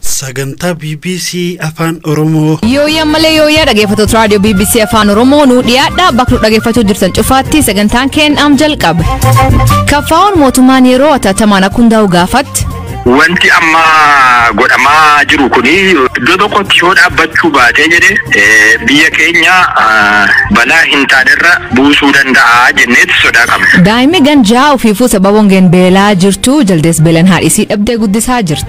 Sagantaa BBC Afaan Oromoo. Yooyyaa malee yooyyaa dhaggeeffattoota raadiyoo BBC Afaan Oromoo nu dhiyaadha bakka nu dhaggeeffachuu jirtan cufaatti sagantaan keenyaam jalqabe. Kaffaa'oon mootummaan yeroo ataatamaan akka hundaa'u gaafatti. Wanti amma godhamaa jiru kun iddoo tokkotti yoo dhaabbachuu baatee jedhe eh, biyya keenya ah, balaa hin taanerra buusuu danda'a jenneetti sodaa qabna. Daa'imni ganjaa ofiifuu sababa hongeen beelaa jirtu jaldees beelan haadhisii dhabdee guddisaa jirti.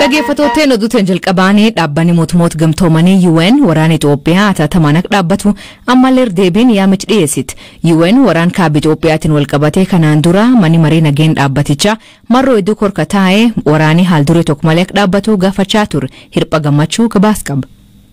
Dhaggeeffattootteen oduuteen jalqabaanii dhaabbanni mootummoota gamtoomanii UN waraana Itoophiyaa ataatamaan akka dhaabbatu ammallee deebiin yaamichi dhiyeessite. UN waraan kaaba Itoophiyaatiin walqabatee kanaan dura manni maree nageen dhaabbatichaa marroo hedduu korka taa'ee waraanii haal duree tokko malee akka dhaabbatu gaafachaa ture. Hirpha gammachuu gabaas qaba.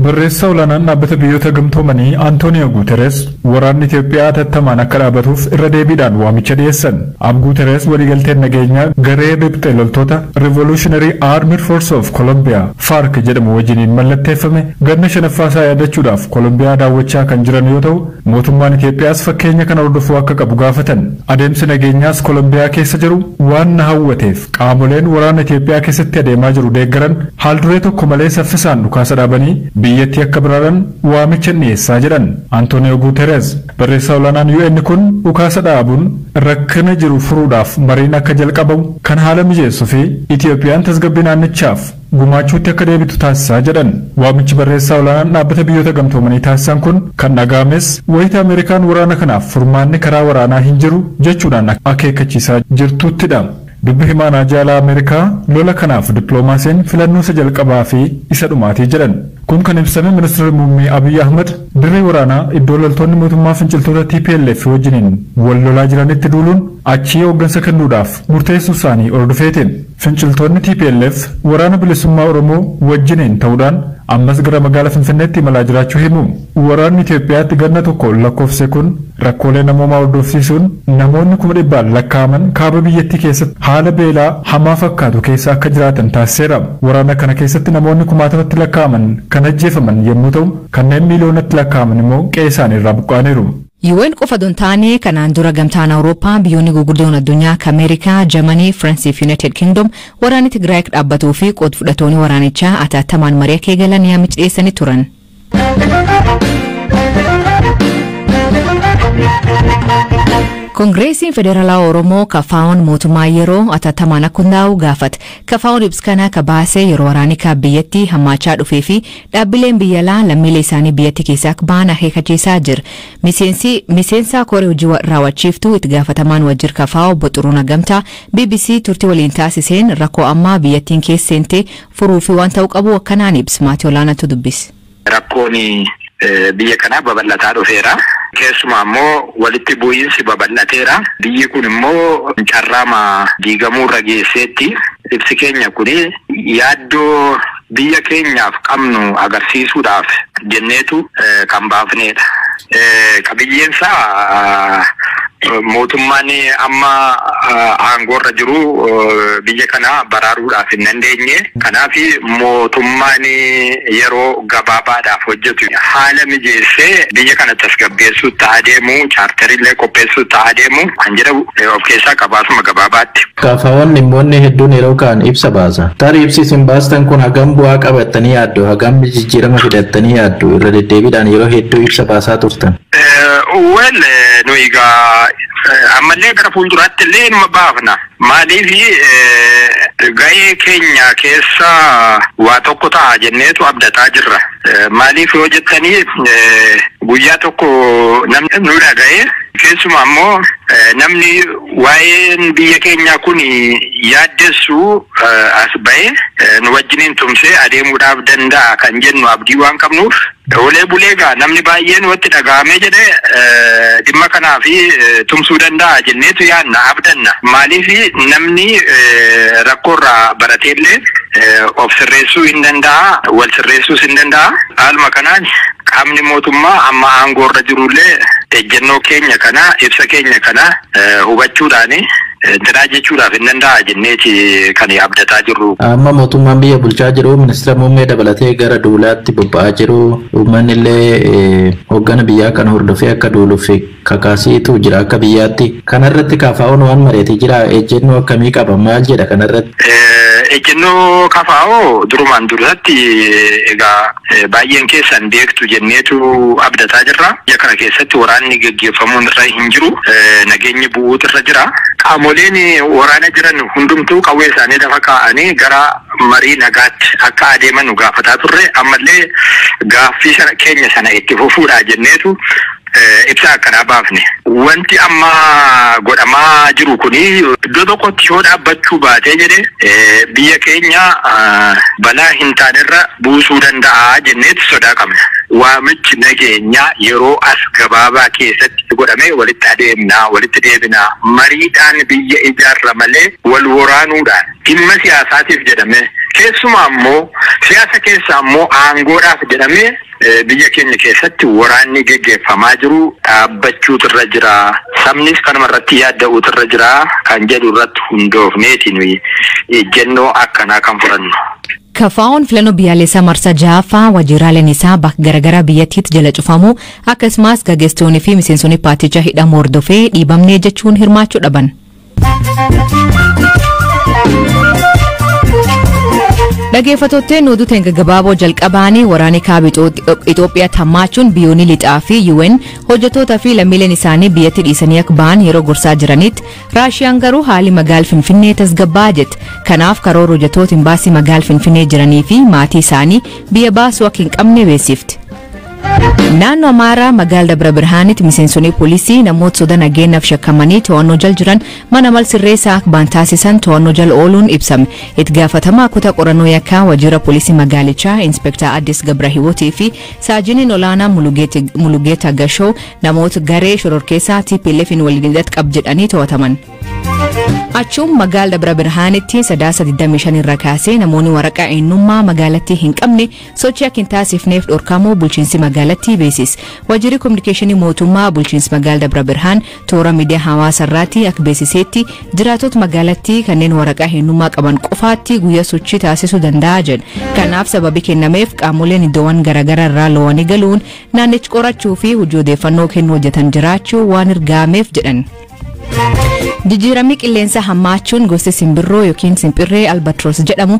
Barreessaa olaanaan Dhaabbata Biyyoota Gamtoomanii Antooniyoo Guutereez waraanni Itiyoophiyaa hatattamaan akka dhaabatuuf irra deebiidhaan waamicha dhiyeessan. Aab Guutereez waliigalteen nageenyaa garee riphxe loltoota Revolutionary Armed Force of Colombia, FARC, jedhamu wajjiniin mallatteeffame ganna shanaffaasaa yaadachuudhaaf Kolombiyaa daawwachaa kan jiran yoo ta'u, Mootummaan Itoophiyaas fakkeenya kana hordofuu akka qabu gaafatan. Adeemsi nageenyaas Kolombiyaa keessa jiru waan na hawwateef qaamoleen waraana Itoophiyaa keessatti adeemaa jiru deeggaran haalduree tokko malee saffisaan dhukaasa dhaabanii biyyattii akka baraaran waamichan dhiyeessaa jedhan Antooniyoo Guutereez. Barreessaa olaanaan UN kun dhukaasa dhaabuun rakkina jiru furuudhaaf mariin akka jalqabamu kan haala mijeessu fi Itoophiyaan tasgabbii naannichaaf gumaachuutti akka deebitu taasisa jedhan. Waamichi barreessaa olaanaan Dhaabbata Biyyoota Gamtoomanii taasisan kun kan dhaga'ames wayita Ameerikaan waraana kanaaf furmaanni karaa waraanaa hin jiru jechuudhaan akeekkachiisaa jirtuuttidha. Dubbi himaan haajaa alaa Ameerikaa lola kanaaf dippiloomaasiin filannoo isa jalqabaa fi isa dhumaati jedhan. Kun kan ibsame Ministirri Muummee Abiy Ahmad dirree waraanaa iddoo loltoonni mootummaa finciltoota tplf wajjiniin wal lolaa jiranitti duuluun achii hooggansa kennuudhaaf murteessuusaanii hordofeeti. Finciltoonni tplf Waraana Bilisummaa Oromoo wajjiniin ta'uudhaan ammas gara magaala Finfinneetti imalaa jiraachuu himu. Waraanni Itoophiyaatti ganna tokko lakkoofse kun rakkoolee namoomaa hordofsiisuun namoonni kuma dhibbaan lakkaa'aman kaaba biyyattii keessatti haala beelaa hamaa fakkaatu keessa akka jiraatan taasiseera. Waraana kana keessatti namoonni kumaatamatti lakkaa'aman kan ajjeefaman yemmuu ta'u, kanneen miiliyoonatti lakkaa'aman immoo qe'eesaanii irraa buqqa'aniiru. UN qofa odoo hin taane kanaan dura Gamtaan Awurooppaa, biyyoonni guguddoon addunyaa akka Ameerikaa, Jamanii, Firansii fi Yunaayitid Kingdom waraanni Tigraay akka dhaabbatuu fi qood fudhatooni waraanichaa ataattamaan marii akka eegalan yaamichi dhiyeessanii turan. Kongireesiin Federaalaa Oromoo kafaa'oon mootummaa yeroo ataattamaan akka hundaa'u gaafate. Kafaa'oon ibsa kana akka baase yeroo waraanikaa biyyatti hammaachaa dhufee fi Dhaabbileen biyya alaa lammiilee isaanii biyyatti keessaa akka bahan akeekachiisaa jir. Miseensi Miseensaa Koree Hojii wa- Raawwachiiftuu Itti Gaafatamaan Wajjir Kafaa Obbo Xuruuna Gamtaa bbc turtii waliin taasiseen rakkoo ammaa biyyattiin keessa seente furuu fi waan ta'uu qabu akkanaan ibs maatii olaanaatu dubbis. rakkoon eh, biyya kanaa babal'ataa dhufeera. Keessumaa immoo walitti bu'iinsi babal'ateera. Biyyi kun immoo carraama diigamuurra geesseetti. Ibsi keenya kun yaaddoo Biyya keenyaaf qabnu agarsiisuudhaaf jenneetu kan baafneedha. Qabiyyeensaa mootummaan amma aangoorra jiru biyya kana baraaruudhaaf hin dandeenye. Kanaaf mootummaan yeroo gabaabaadhaaf hojjetu haala mijeessee biyya kana tasgabbeessuutti haa deemu, chaartariillee qopheessuutti haa deemu kan jedhu of keessaa qaba asuma gabaabaatti. Kaafaawwan dhimmoonni hedduun yeroo ka'an ibsa baasa. Tarii ibsi isin baastan kun hagam bu'aa qaba jettanii yaaddu? Hagam jijjiirama fida jettanii yaaddu? Irra deddeebiidhaan yeroo hedduu ibsa baasaa turtan. Well nuyi egaa ammallee gara fuulduraatti illee inuma baafna. Maaliif gahee keenya keessa waa tokko ta'a jenneetu abdataa jirra. Maaliif yoo jettanii guyyaa tokko namni nu dhaga'ee keessumaa immoo namni Waa'een biyya keenyaa kun yaaddessu as ba'ee nu wajjiniin tumsee adeemuudhaaf danda'a kan jennu abdii waan qabnuuf oolee bulee egaa namni baay'een watti dhaga'amee jedhe dhimma kanaaf tumsuu danda'a jenneetu yaadna abdanna maaliif namni rakkoo irraa barateellee of sirreessuu hin danda'a wal sirreessuus hin danda'a haaluma kanaan Qaamni mootummaa amma aangoorra jirullee ejjennoo keenya kana, ibsa keenya kana hubachuudhaan intinaa jechuudhaaf hin danda'a jenneeti kan abdataa jirru. Amma mootummaan biyya bulchaa jiru ministira muummee dabalatee gara duulaatti bobba'aa jiru. Uummanni illee hooggana biyyaa kana hordofee akka duuluuf kakaaseetu jira akka biyyaatti. Kana irratti KFOn waan mari'ate jiraa? Ejjennoo akkamii qaba? Maal jedha kana irratti? Ejjennoo KFO durumaan dursatti egaa baay'een keessan beektu jenneetu abdataa jirra. Biyya kana keessatti waraanni geggeeffamuun irra hin jiru. Nageenyi bu'uutu irra jira. Qaamoleen waraana jiran hundumtuu qawwee isaanii lafa kaa'anii gara marii nagaatti akka adeemanu gaafataa turre. Ammallee gaaffii keenya sana itti fufuudha jenneetu ibsa akkanaa baafne. Wanti amma godhamaa jiru kun iddoo tokkotti yoo dhaabbachuu baatee jedhe biyya keenya balaa hin taanerra buusuu danda'a jenneeti sodaa qabna. Waamichi nageenyaa yeroo as gabaabaa keessatti godhamee walitti adeemna, walitti deebina, mariidhaan biyya ijaarra malee wal woraanuudhaan dhimma siyaasaatiif jedhamee keessumaa immoo siyaasa keessaa immoo aangoodhaaf jedhamee Biyya keenya keessatti waraanni geggeeffamaa jiru dhaabbachuutu irra jira, sabnis kanuma irratti yaadda'uutu irra jira kan jedhu irratti hundoofneeti nuyi ejjennoo akkanaa kan fudhannu. KFOn filannoo biyyaalessaa marsaa jahaffaa waajjiraaleen isaa bakka garaagaraa biyyattiitti jala cufamuu akkasumas gaggeessitoonni fi miseensonni paartichaa hidhamuu hordofee dhiibamnee jechuun hirmaachuu dhaban. Dhageeffattootni nu duteen gaggabaaboo jalqabaanii waraanni kaaba Itoophiyaa tammaachuun biyyoonni lixaa fi UN hojjettoota fi lammiileen isaanii biyyatti dhiisanii akka ba'an yeroo gorsaa jiranitti Raashiyaan garuu haali magaal Finfinnee tasgabbaa jette. Kanaaf karoora hojjettoota imbaasii magaal Finfinnee jiranii fi maatii isaanii biyya baasuu akka hin qabne beeksifte. Naannoo Amaaraa magaala Dabra Birhaanitti miseensonni poolisii namoota soda nageenyaaf shakkamanii to'annoo jal jiran mana mal sirreessaa akka baan taasisan to'annoo jal ooluun ibsame. Itti gaafatamaa kutaa qorannoo yakkaa waajjira poolisii magaalichaa Inspektaa Addis Gabrahiwootii fi saajiniin olaanaa Mulugeeta Gashoo namoota garee shororkeessaa TPLF'n waliin hidhata qab jedhanii to'ataman. Achuun magaala Dabra Birhaanitti sadaasa 25 irra kaasee namoonni waraqaa eenyummaa magaalattii hin qabne Sochii akka hin taasifneef dhorkamuu bulchiinsi magaalattii beesis. Waajjirri Kominikeeshinii Mootummaa bulchiinsi magaala Dabra Birhaan toora miidiyaa hawaasa irraatti akka beesiseetti jiraatota magaalattii kanneen waraqaa eenyummaa qaban qofaatti guyyaa sochii taasisuu danda'a jedha. Kanaaf sababii kennameef qaamoleen iddoowwan garaagaraa irraa loowanii galuun naannichi qorachuu fi hojii odeeffannoo kennuu hojjetan jiraachuu waan ergaameef jedhan. Jijjiiramni qilleensaa hammaachuun gosti simbirroo yookiin simpirree albatroos jedhamu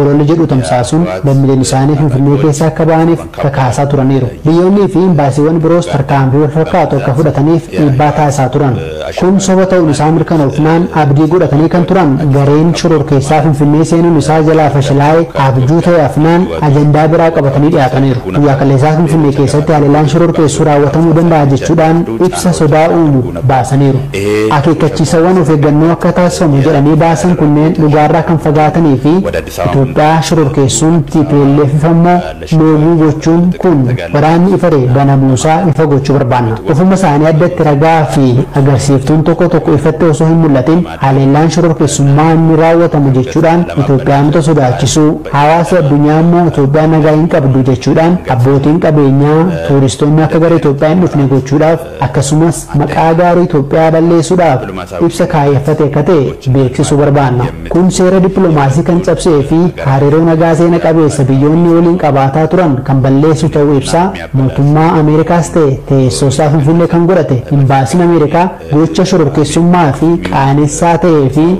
Ololli jedhu tamsaasuun lammileen isaanii Finfinnee keessaa akka ba'aniif kakaasaa turaniiru. Biyyoonnii fi imbaasiiwwan biroos tarkaanfii wal fakkaatu akka fudhataniif dhiibbaa taasisaa turan. Kun soba ta'uun isaa mirkanoofnaan abdii godhatanii kan turan gareen shororkeessaa Finfinnee seenuun isaa jalaa fashilaa'e abjuu ta'ee hafnaan ajandaa biraa qabatanii dhiyaataniiru. Guyyaa kaleessaa Finfinnee keessatti haleellaan shororkeessuu raawwatamuu danda'a jechuudhaan ibsa sodaa uumu. baasaniiru. Akeekkachiisawwan of eeggannoo akka taasifamu jedhanii baasan kunneen dhugaarraa kan fagaatanii fi Itoophiyaa shororkeessuun TPLFif ammoo loogii gochuun kun waraanni ifare banamuusaa ifa gochuu barbaanna. Ofuma isaanii addatti ragaa fi agarsiiftuun tokko tokko ifatti osoo hin mul'atin haleellaan shororkeessummaa ni raawwatama jechuudhaan Itoophiyaanota sodaachisuu, hawaasi addunyaa ammoo Itoophiyaa nagaa hin qabdu jechuudhaan abbootiin qabeenyaa, tuuristoonni akka gara Itoophiyaa hin dhufne gochuudhaaf Akkasumas maqaa gaarii Itoophiyaa balleessuudhaaf ibsa kaayyeffate akka ta'e beeksisuu barbaanna. Kun seera dippilomaasii kan cabsee fi hariiroo nagaa seena qabeessa biyyoonni waliin qabaataa turan kan balleessu ta'uu ibsaa, mootummaa Ameerikaas ta'e teessoo isaa Finfinnee kan godhate Imbaasiin Ameerikaa gocha shororkeessummaa fi qaanessaa ta'ee fi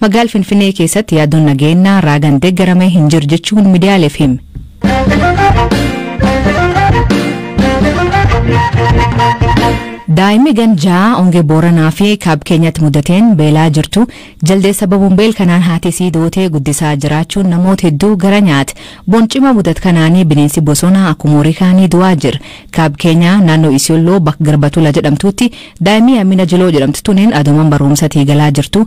Magaal Finfinee keessatti yaadoon nageennaa raagan deeggarame hin jiru jechuun midiyaaleef hime. Daa'imni gan ja'a ongee Booranaa fi Kaab Keenyatti mudateen beelaa jirtu jaldeessa babuun beel kanaan haati isii dootee guddisaa jiraachuun namoota hedduu gara nyaate. Boncima mudat kanaanii bineensi bosonaa akkuma horii kaanii du'aa jira. Kaab Keenyaa naannoo Isiyolloo bakka Garbatula jedhamtuutti daa'imni Amina Jiloo jedhamtu tuniin adooman barumsatii galaa jirtu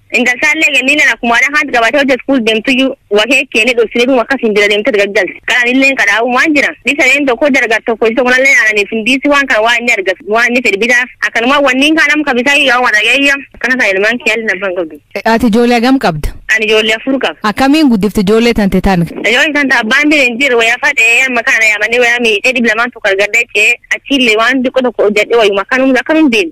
Intaltaallee Ganniilleen akkuma waan akaanti qabaatee hojja iskuul deemtuyyuu wa keekkeennee dhossine dhuma akkasiin bira deemte gaggalte. Kan anilleen qadhaa'umaan jira. Dhisaneen tokko hojja argatu tokko isii tokko nalleen aananiif hin diisi waan kana waan inni argatu waan inni fedhi bitaaf. Akkanumaan wanniin kaan amma kabisaa yoo waan dhageeyya akkana kan ilmaan kee haalli nabbaan qabdu. Ati ijoollee hagam qabda? Ani ijoollee afur qaba. Akkamiin guddifte ijoollee tante tan? Ijoollee tante abbaan bira hin jiru wayaa fadhee amma kana yaamanii wayaa miidhee dhib lamaan tokko argadda jechee achiillee waan xiqqoo tokko hojjadhee wayuma akkanum akkanum deemu.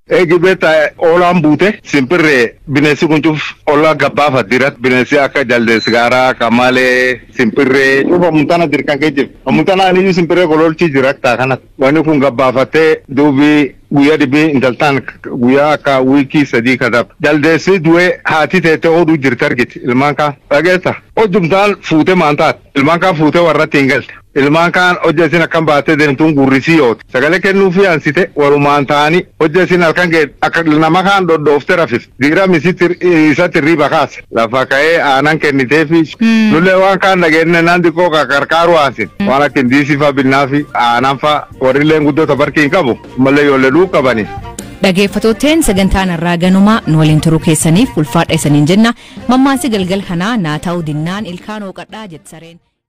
Eegi beetta oolaan buute simpirre bineessi kun cuf olla gabbaafa dirat bineessi akka jaldeessi gaara qamaale simpirre cuf amuntana dirqan ke jir amuntana aniyu simpirre kololchi jir akka kanat wani kun gabbaafatte duubi guyya dhibi intal tan guyya akka wiki sadii kadab jaldeessi duwe haati teette odu jirt argit ilmaan kaan dhageessa ojum taan fuute maan taat ilmaan kaan fuute warratti hin galte. Ilmaan kaan hojja isin akkan baattee deemtuun gurri isii oote. Sagalee kennuufii ansite walumaan taa'anii hojja isin halkan geette akka nama kaan dhodhoofte rafiste. Diiram isatti irriiba kaase. Lafa ka'ee aanan kenniteefii. Nullee waan kaan dhageennee naan diqqoo qarqaaruu aansine. Waan akka indiisii faa binnaafii, aanan faa. Warrilleen guddoo ta barkii hin qabu. Ammallee ijoollee dhuu qabaniif. Dhageeffatooteen sagantaan har'aa ganumaa nu waliin turuu keessaniif ulfaadha isaniin jenna. Mammaasi galgal kanaa naa ta'uu dinnaan ilkaan hooqadhaa jette sareen.